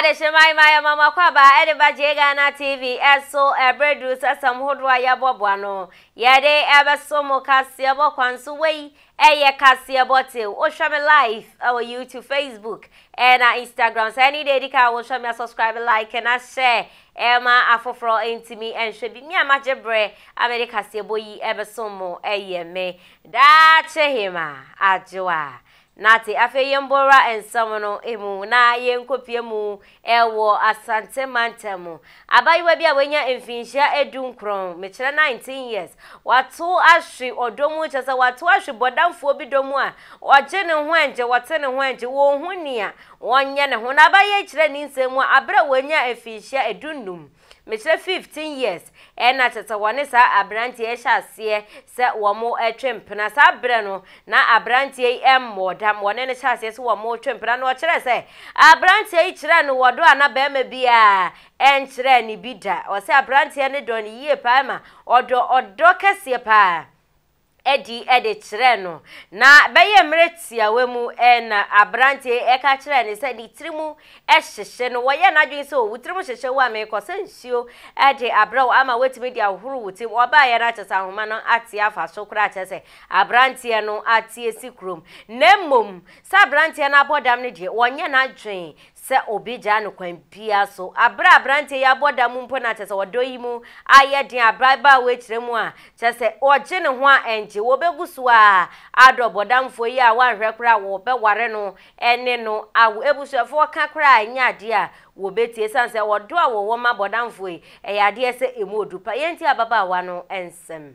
Adehyema Imaya Mama Kwaba ɛde ba gye Ghana TV ɛso ɛbere duru sɛ asɛm hodoɔ a yɛbɔboa no yɛde ɛbɛso mo kaseɛbɔ kwan so wei Ɛyɛ kaseɛbɔ till wohwɛ me live ɛwɔ YouTube, Facebook, ɛna Instagram. Sɛ ɛne deɛ ɛdi kan a wohwɛ me a subscribe, like na share ɛma afoforɔ ntumi nhwɛ bi. Me a magye berɛ a mede kaseɛbɔ yi ɛbɛsom mo ɛyɛ me Daakye Hema Adwoa Nartey. Afei yɛmbɔ wura nsɛm no mu na yɛnkɔpue mu Ɛwɔ Asante Mantam mu. Abaayewa bi a wanya mfinhyia adunkron, mekyerɛ nineteen years, wato ahwe ɔdɔ mu, kyerɛ sɛ wato ahwe bɔdamfoɔ bi dɔ mu a ɔgye ne ho ɛngye, ɔte ne ho ɛngye, ɔnhu nea ɔnyɛ ne ho. Na abaayewa yi kyerɛɛ ne nsɛm mu a berɛ a wanya mfinhyia adunnum, Mekyerɛ fifteen years ɛna tete wɔne saa abranteɛ yi hyɛ aseɛ sɛ wɔn twe mpena saa berɛ no na abranteɛ yi mmɔɔ dam wɔne no hyɛ aseɛ sɛ wɔn retwe mpena na ɔkyerɛ sɛ abranteɛ yi kyerɛ no wɔdɔ a na barima biara ɛnkyerɛ ne bi da ɔsɛ abranteɛ no dɔ no yie paa ma ɔdɔ ɔdɔ kɛseɛ paa adi de kyerɛɛ no. Ná ɛbɛyɛ mmerɛ tiawa mu na aberanteɛ yi reka kyerɛɛ no sɛ ne tiri mu hyehye no. Wɔyɛɛ n'adwene sɛ, O, wo tiri mu hyehye wo a, merekɔsa nsuo de abrɛ wo ama woatumi de ahohoro wo ti. Ɔbaeɛ no akyerɛ sɛ ahoma no ate afa so koraa kyerɛ sɛ aberanteɛ no ate asi kurom. Na mmom, sɛ aberanteɛ no abɔ dam no deɛ, ɔnyɛ n'adwene sɛ obi gyaa no kwan biara so, aberɛ a aberanteɛ yi abɔ dam mpo na kyerɛ sɛ ɔdɔ yi mu ayɛ den, aberɛ a ababaawa yi kyerɛ mu a kyerɛ sɛ ɔgye ne ho a ɛngye, wɔbɛgu so ara adɔ bɔdamfoɔ yi a wɔanhwɛ koraa wɔbɛware no ne no awo. Abusuafoɔ ka koraa a ɛnyɛ adeɛ a wɔbɛtie ɛsiane sɛ ɔdɔ a wɔwɔ ma bɔdamfoɔ yi, ɛyɛ adeɛ sɛ ɛmu ɔdu pa. Yɛntie ababaawa no nsɛm.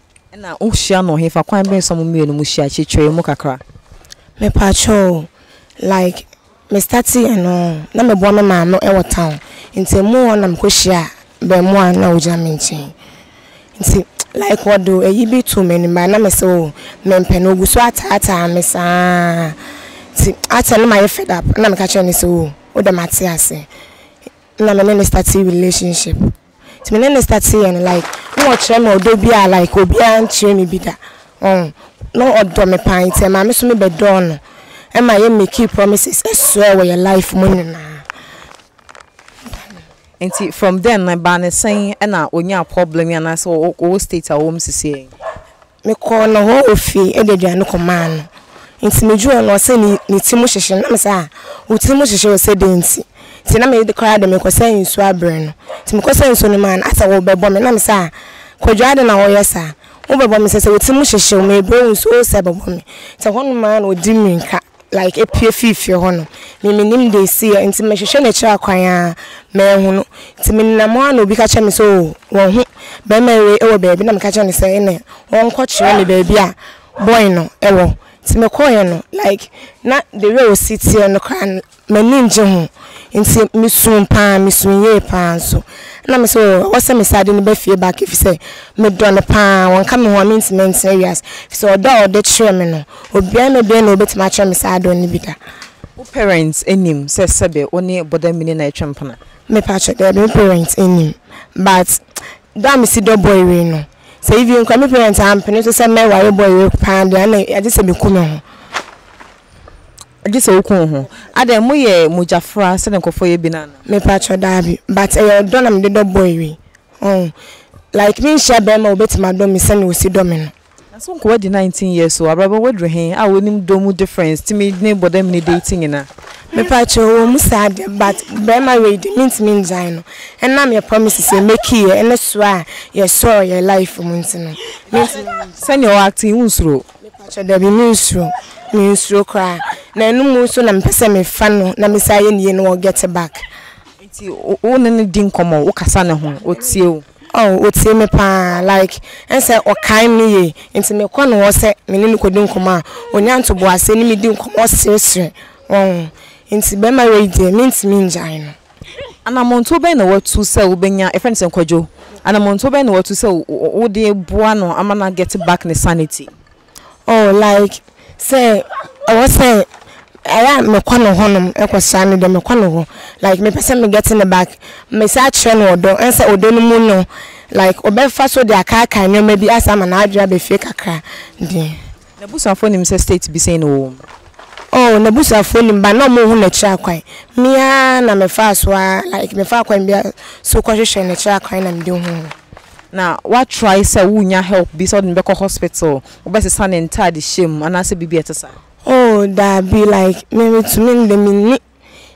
Ɛna wo hyia no hefa kwan bɛn so a mo mmienu mo hyia kyekyeree mu kakra. Me pa kyɛw like me starte yɛ no na me boa me maa no wɔ town nti mo hɔ na me kɔ hyia bɛɛmoa na ogyina me nkyen nti like wɔde ayi bi too me anim baa na me se oh me mpɛ na ogu so ataa taa me saa nti after na ma yɛ fed up na me ka kyerɛ no se oh wo dɛ mate ase na me ne no starte relationship. Nti me ne no start yɛ no like na ɔkyerɛ me ɔdɔ bi a like obiara annkyerɛ me bi da ɔho na ɔdɔ me paa nti ɛmaa me so me bɛdɔɔ no ɛma yɛ makee promises ɛsoɛɛ wɔ yɛ life mu nyinaa. Nti from then no ɛbaa no sɛn ɛna onyaa problem yi anaasɛ ɔwɔ state a ɔwɔ mu sesei yi? Mekɔɔ no hɔ ofie de aduane kɔmaa no. Nti meduu hɔ no ɔse ne ne ti mu hyehye na mese ah wo ti mu hyehye ɔse dɛn nti nti na me koraa de mekɔsa nsuo abrɛ no nti mekɔsa nsuo no maa no asɛ wobɛbɔ me na mese ah Kwadwo adɛn na woyɛ saa wobɛbɔ me sɛ sɛ wo ti mu hyehye wo mebrɛ wo nsuo wosɛ bɛbɔ me nti ɛhɔ nom aa na ɔdi mirika like apue fii fie hɔ nom. Me mennim deɛ ɛsiiɛ nti mehwehwɛ n'akyiri akwan a manhu no. Nti menenam hɔ a na obi ka kyerɛ me sɛ oo wɔahu bɛrima wei wɔ baabi na meka kyerɛɛ no sɛ ɛnneɛ ɔnkɔkyerɛ me baabi a boy no wɔ. Nti mekɔeɛ no like na the way a ɔsi teɛ no koraa no m'ani nngye ho nti mesuu paa mesuu yie paa nso. Ɛna mese oo ɛwɔ sɛ mesan de no ba fie back ɛfiri sɛ medɔ no paa ɔnka me ho a mentumi ntena wiase ɛfiri sɛ ɔdɔ a ɔde kyerɛ me no. Obiaa na obiaa na obetumi akyerɛ me saa adɔɔ no bi da. Wo parents nim sɛ sɛbe wo ne Bɔda Mini na ɛtwa mpena? Me pakyɛ, daabi me parents nim but dɔ a me si dɔ boy wei no sɛ even koraa me parents ampene so sɛ mɛ ware boy wei paa deɛ ana agye sɛ me ku me ho. Agye sɛ wo ku wo ho? Adɛn mo yɛ mogya fra sɛdeɛ nkorɔfoɔ yɛ bi no anaa? Me pakyɛ, daabi but ɛyɛ ɔdɔ na me de dɔ boy wei ɔho like me nhyia bɛɛma a obetumi adɔ me sɛdeɛ osi dɔ me no. Na so nkowa di nineteen years o abrabɔ waduru he a wonim dɔ mu difference tumi ne bɔdam ne date nyina me paa kyɛw. Ɔwɔ mu saa deɛ but barima wei deɛ mentumi ngyae no ɛnam yɛ promises yɛ make yɛ ne soɔ a yɛ sɔɔ yɛ life mu nti no mentumi ngyae. Sɛnea ɔ acte yi wonsuro o. Me pakyɛ dabi me nsuro me nsuro koraa na ɛno mu nso na me pɛ sɛ me fa no na me san yɛ ne yie na wɔ get back. Nti wo ne no di nkɔmɔ wo kasa ne ho ɔtie wo. Aww otie me paa like ɛnsɛ ɔkae me yie nti mekɔ ne hɔ sɛ me ne no kɔdi nkɔmmɔ a ɔnya ntoboaseɛ ne me di nkɔmmɔ sresre wahu nti bɛrima wei deɛ mentumi ngyae no. Anammɔntuo bɛn na watu sɛ wobɛnya, yɛfrɛ no sɛ nkwadwo, anammɔntuo bɛn na watu sɛ wode boa no ama no a get back ne sanity? oh like sɛ ɔwɔ sɛ ɛyɛ a mekɔ ne hɔ nom ɛkɔ sra no deɛ mekɔ ne hɔ like mepɛ sɛ me get ne back mɛsan akyerɛ no ɔdɔ ɛne sɛ ɔdɔ no mu no like ɔbɛfa so de akaakae nneɛma bi asan ama n'adwene aba fie kakra deɛ. N'abusuafoɔ nim sɛ state bi sɛn na ɔwɔ mu? Oh n'abusuafoɔ nim but na wɔnhu n'akyiri akwan me ara na mefaa so ara like mefaa kwan biara so kɔhwehwɛɛ n'akyiri akwan na mede huu no. na wa try sɛ wo nya help bi sɛ wode no bɛkɔ hospital wo bɛ sesa ne ntade hyɛ mu anaa sɛ biribi a ɛte saa. Oh daabi like me me tumi me de me nni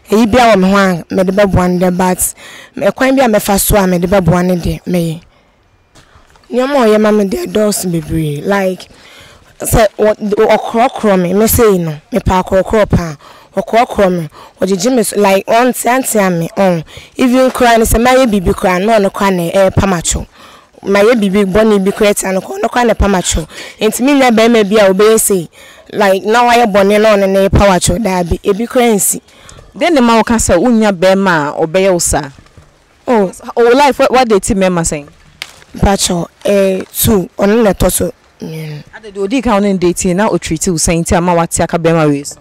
ɛyi bia wɔ me ho a me de bɛboa no deɛ but ɛkwan bia mɛ fa so a me de bɛboa no deɛ mɛ yɛ nneɛma ɔyɛ ma me deɛ ɛdɔɔso bebree like. Sɛ wɔ, wɔkorɔkorɔ me, me sei no, mepɛ akorɔkorɔ paa, wɔkorɔkorɔ me, wɔgyegye me so, like wɔnteatea me, ɔn, even koraa no sɛ mayɛ biribi koraa no, na ɔno koraa na ɛrepam atwew, mayɛ biribi bɔne bi koraa atia no koraa, ɔno koraa na ɛpam atwew, nti mennya barima bi a ɔbɛyɛ sei, like na wayɛ bɔne na ɔno na ɛrepaw atwew, daabi, ebi koraa nsi. Dɛn na ɛma woka sɛ wonnya barima a ɔbɛyɛ wo saa? Oh oh wo life wa date mmarima sɛn? Mpakyɛw eh two ɔno na ɛtɔ so mmienu. Ade deɛ odi kan a wo ne no date yɛ na o treat wo sɛn nti a ma wate aka bɛrima wei so?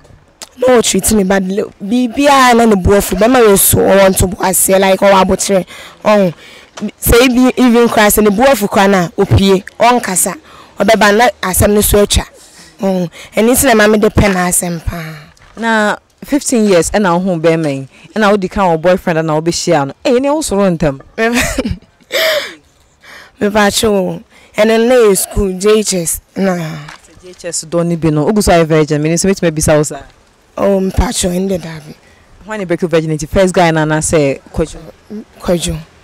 Na o treat me bad biribiara na ne bo afu bɛrima wei so ɔwɔ ntoboaseɛ like ɔwɔ abokyerɛ ɔho sɛ ebi even koraa sɛ ne bo afu koraa no a opue ɔnkasa ɔbɛba na asɛm no so atwa ɔho ɛno nti na ɛma mede pɛ n'asɛm paa. Na fifteen years ɛna wo hu bɛɛma yi ɛna wo di kan wɔ boyfriend ɛna wo bɛ hyia no ɛyɛ ne wo soro ntɛm. Mepatwo o ɛno no na yɛ school JHS na. JHS dɔ ne bi no ogu so ayɛ virgin mene so mɛtumi abisa wo saa. Oh mepatwo ɛnde daabi. Hwan ne break virginity first guy na anasɛ kwadwo. Kwadwo.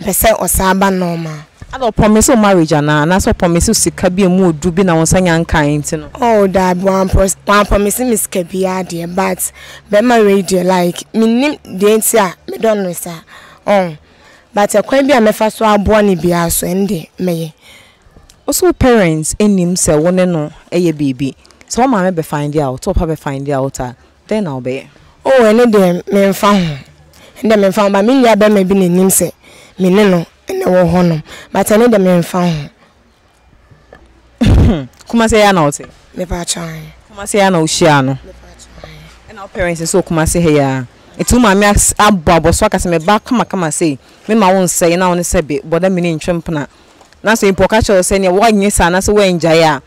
Pɛ sɛ ɔsaa ba normal. Ada ɔ promise wo marriage anaa? Anaasɛ ɔ promise wo sika bi emu ɔduru bi na wo nsa nya nkae nti no? Oh daabi wan promise me sika biaa deɛ but bɛɛma wei deɛ like mennim deɛ nti a me dɔ no saa oh but ɛkwan bi a mɛfa so aboa no biaa so ɛno deɛ mɛyɛ. Wose wo parents nnim sɛ wo ne no yɛ biribi? Sɛ wo maame bɛ find out, wo papa bɛ find out a Dɛn na wobɛyɛ? Oh, ɛno deɛ memfa ho. Ɛno deɛ memfa ho. But me nua barima bi na nim sɛ me ne no na ɛwɔ hɔnom. But ɛno deɛ memfa ho. Hmm, Kumasi ha na wote? Mepatwa ahe? Kumasi ha na wohyiaa no? Mepatwa ahe? Ɛna wo parents nso wɔ Kumasi ha yi ara? Nti wo maame abɔ abɔso aka sɛ meba kamakama sei, mema wo nsɛe na wo ne sɛ be bɔda me ne ntwe mpena. Na sɛ mpo ɔka kyerɛ wo sɛ nea woanyɛ saa na sɛ woangyae a,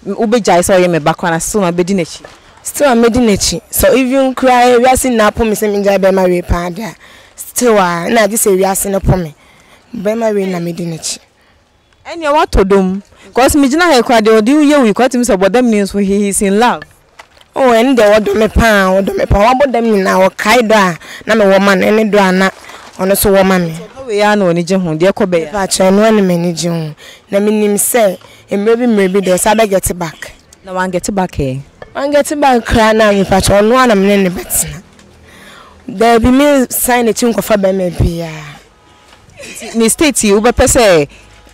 wobɛgyae sɛ ɔyɛ me ba koraa na still mabɛdi n'akyi. Still a mɛdi n'akyi. Sɛ even koraa wiase nyinaa po me sɛ mengyae bɛrima wei paa deɛ a, still a nna agye sɛ wiase no po me. Bɛrima wei na mɛdi n'akyi. Ɛnneɛ woatɔ dɔm. Cos megyina ha yi koraa deɛ ɔde wo yɛ wo yi koraa wotumi sɛ ɔbɔ dam ni nso he is in love. Oh ɛno deɛ ɔdɔ me paa ɔdɔ me paa wabɔ dam nyinaa ɔkae dɔ a na me wɔ ma no ɛne dɔ a na ɔno nso wɔ ma me. Nti ɔdɔ wei ara na w'ani gye ho deɛ ɛkɔ bɛyɛ a. Mepakyɛw ɛno ara na m'ani gye ho na me nim sɛ mmerɛ bi mmerɛ bi deɛ saa bɛ get back. Na wan get back ɛ? Wan get back koraa na mepakyɛw ɔno ara na me ne no bɛtena daabi me nsan n'akyi nkɔfa bɛɛma biara. Nti ne state yi wobɛpɛ sɛ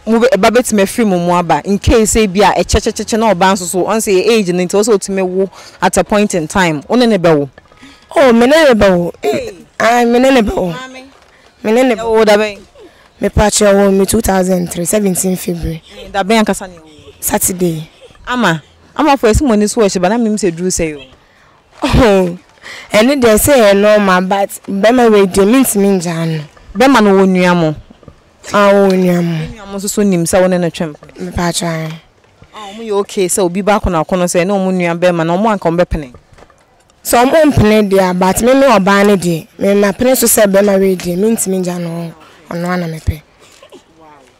mo ba bɛtumi afiri mo mu aba in case sɛ ebi a ɛkyɛkyɛkyɛkyɛ na ɔbaa nso so ɔn sɛ yɛ age no nti ɛwɔ sɛ ɔtumi wo at a point in time wo ne ne bɛwo. Oh me ne ne bɛwo ae me ne ne bɛwo me ne ne bɛwo. Ɛwoo da bɛn? Mepakyɛ ɔwoo me 2003 17 February. Ɛɛ da bɛn ankasa na ɛwoo? Saturday. Ama ama fo ɛsi mo ani so wɔ ɛhyɛ ba na menim sɛ duru sɛe o. Ohoo ɛno deɛ ɛsɛ yɛ normal but bɛma wei deɛ mentumi ngyaa no. Bɛma no wɔ nua mo? Aa ɔwɔ nua mo. Ne nua mo nso so nim sɛ wone no twem? Mepaakyɛw ae. Aa ɔmo yɛ ok sɛ obi ba akono akono sɛ ɛne ɔmo nua bɛma no ɔmo anka ɔmo bɛpene? Sɛ ɔmo mpene deɛ a but me me ɔbaa no deɛ me mapene so sɛ bɛma wei deɛ mentumi ngya no ɔnoaa na mepɛ.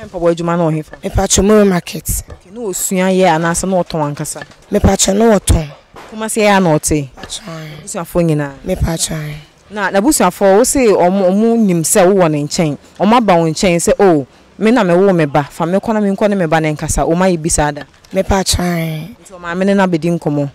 Na mpaboa adwuma no wɔ hefa? Mepatwɔ Mure market. Okay, na ɔsua yɛ anaasɛ na ɔtɔn ankasa? Mepatwɔ na ɔtɔn. Kumasi ha na ɔte? Mepatwɔ ae. N'abusuafoɔ nyinaa? Mepatwɔ ae. Na n'abusuafoɔ wo se ɔmo ɔmo nim sɛ wowɔ ne nkyɛn? Ɔmo aba wo nkyɛn sɛ oh me na me woo me ba fa me kɔ na me nkɔ ne me ba no nkasa ɔmo ayɛ bi saa da? Mepatwɔ ae. Nti ɔmaame no na bɛdi nkɔmɔ?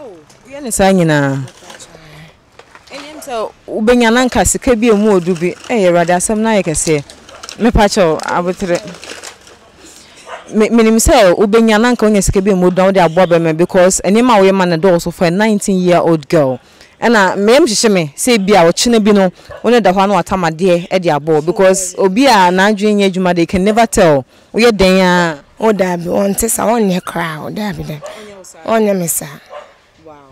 Oh, woyɛ ne saa nyinaa. Ɛnyɛ sɛ wobɛnya na nka sika bi a ɛmu ɔdu bi. Ɛyɛ Awurade asɛm no ayɛ kɛseɛ. Mepa kyɛw abotere. Menim sɛ wobɛnya na nka wonya sika bi a ɛmu ɔdu na wode aboa bɛrima because nneɛma a woyɛ ma no dɔɔso for a 19 year old girl. Ɛna me yam hyehye me sɛ ebi a ɔkyena bi no wo ne da hɔ a na watam adeɛ de abɔ wo because obi a n'adwene nyɛ adwuma deɛ you can never tell. Woyɛ dɛn aa? Oh daabi ɔnte saa ɔnyɛ koraa oh daabi daabi ɔnyɛ me saa. Wow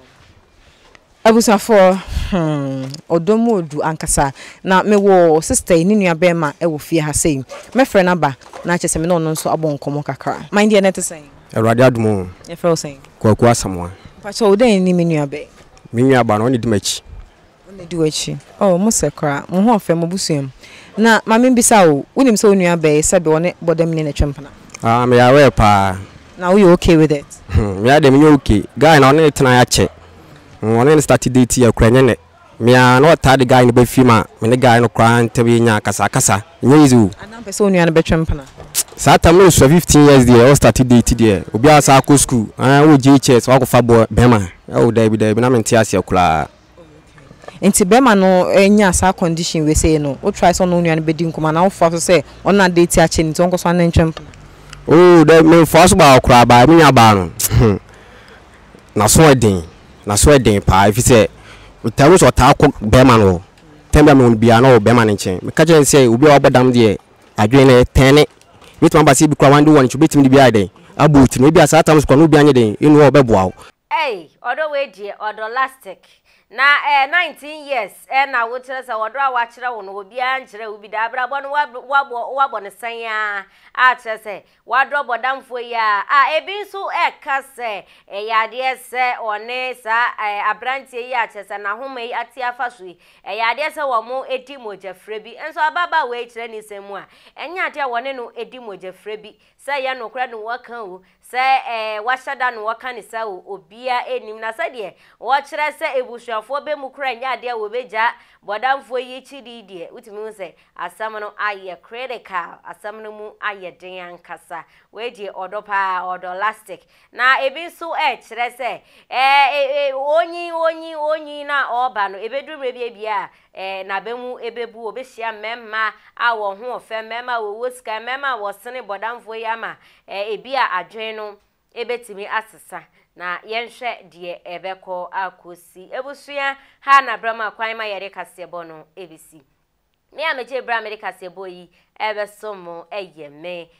abusuafoɔ hmm ɔdɔ mu odu ankasa na me wɔ sister yi ne nua bɛɛma ɛwɔ fie ha sei mɛfrɛ no aba na kyɛ sɛ me ne ɔno nso abɔ nkɔmɔ kakra man deɛ na ɛte sɛn. Awurade adom oo. Yɛfrɛ wo sɛn? Kwaku Asamoah. Mpakyɛw wo dɛn ne me nua bɛɛ? Me nua baa no ɔne di m'akyi. Ɔnnadi w'akyi. Oh, mosɛ koraa. Mo ho ɔfɛ, mo abusua mu. Na ma mimmisa wo, wunim sɛ wo nua bɛyɛ sɛ deɛ ɔne bɔdamni na ɛtwa mpena? Ah, meyɛ aware paa. Na woyɛ okay with it? Hmm, me ara deɛ menyɛ okay. Guy no, ɔne no tenae akyɛ. Hmm, ɔne no starte date yi, ɛkura, ɛnyɛ nnɛ. Me ara, na ɔtaa de guy no ba fie ma me ne guy no koraa ntam yɛnya akasakasa. Ɛnyɛ easy o. Ana wompɛ sɛ wo nua no bɛtwa mpena? Tsk, saa tam no nsua, fifteen years deɛ, ɔrestarte date deɛ, obiara asan akɔ sukuu, ɛɛ, wowɔ JHS, woakɔfa boy, barima. Oh, daabi, daabi, na mente aseɛ koraa. Ntsi bɛrima no nyaa saa condition wei sei no, wo try sɛ ɔno wo nua no bɛdi nkɔmmɔ anaa wo foa so sɛ ɔno na date akyɛ no nti ɔnkɔ so anantwa mpo? Ooh dɛ me foa so baako koraa baa me nua baa no hmm n'aso ɛden n'aso ɛden paa ɛfiri sɛ metaa hu sɛ ɔtaa kɔ bɛrima no hɔ time biara mehu no biara na ɔwɔ bɛrima no nkyɛn meka kyerɛ no sɛ obi a wabɔ dam deɛ adwene no ɛtɛne ɛbɛtumi aba sɛ ebi koraa wande wɔ ne nkyɛn obɛtumi de bi ayɛ dɛn abɔ wo ti no ebia saa tam so koraa na obi anyɛ dɛn anu a ɔbɛboa wo. Ei ɔdɔ wei deɛ ɔdɔ lastic na ɛɛ nineteen years ɛɛ na wo kyerɛ sɛ ɔdɔ a wakyerɛ wo no obiara nkyerɛ wo bi da abrabɔ no wabɔ wabɔ ne sɛn a a kyerɛ sɛ wadɔ bɔdamfoɔ yi a a ebi nso ɛka sɛ ɛyɛ adeɛ sɛ ɔne saa ɛɛ abranteɛ yi a kyerɛ sɛ n'ahoma yi ate afa so yi ɛyɛ adeɛ sɛ wɔn edi mogyafrɛ bi nso ababaa wei kyerɛ ne nsɛm mu a ɛnyɛ adeɛ a wɔne no edi mogyafrɛ bi sɛ yɛ nokorɛ no wɔka o Sɛ eh, wɔahyɛ da no wɔka no saa o, obiara nnim. Na sɛdeɛ wɔkyerɛ sɛ abusuafoɔ bɛ mu koraa nyɛ adeɛ a wɔbɛgyaa bɔdamfoɔ yi akyidi yi deɛ, wotumi hu sɛ asɛm no ayɛ critical, asɛm no mu ayɛ den ankasa. Wei deɛ ɔdɔ paa, ɔdɔ lastic. Na ebi nso rekyerɛ sɛ eh, eh, eh, onyin, onyin, onyin na ɔreba no, ɛbɛduru mmerɛ bi a biara Ɛ, n'aba mu ebebu. Obehyia mmarima a wɔn ho ɔfɛ, mmarima a wɔwɔ sika, mmarima a wɔsene bɔdamfoɔ yi ama, ɛ, ebia adwene no betumi asesa. Na yɛnhwɛ deɛ ɛbɛkɔ akosi. Abusua ha na berɛ ma kwan ma yɛde kaseɛbɔ no besi. Me a megye berɛ a mede kaseɛbɔ yi rebɛsom mo yɛ me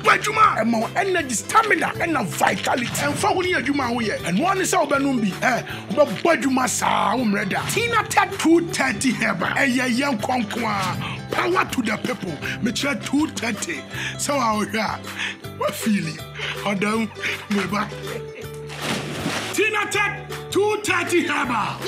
Bɔ adwuma a ɛma wo energy, stamina ɛna vitality. Ɛnfa ho ne adwuma a woyɛ, ɛno ara ne sɛ wobɛnom bi. Ɛ, wobɛbɔ adwuma saa, wommrɛ da. Tinated 230 herbal, ɛyɛ yɛ nkɔ nko ara. Power to the people, mekyerɛ 230, sɛ woa wohwɛ a, woafeeli ɔdɔ mu, meba. Tinatet 230 Herbal.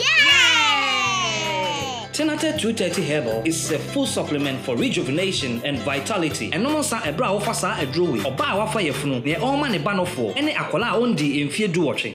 Tinatet 230 Herbal is a full supplement for rejuvenation and vitality. Ɛnom nsa ɛberɛ a wofa saa aduro wei. Ɔbaa a wafa yafunu, neɛ ɔrema ne ba nofoɔ, ɛne akwadaa a ɔndii mfeɛ duwɔtwe.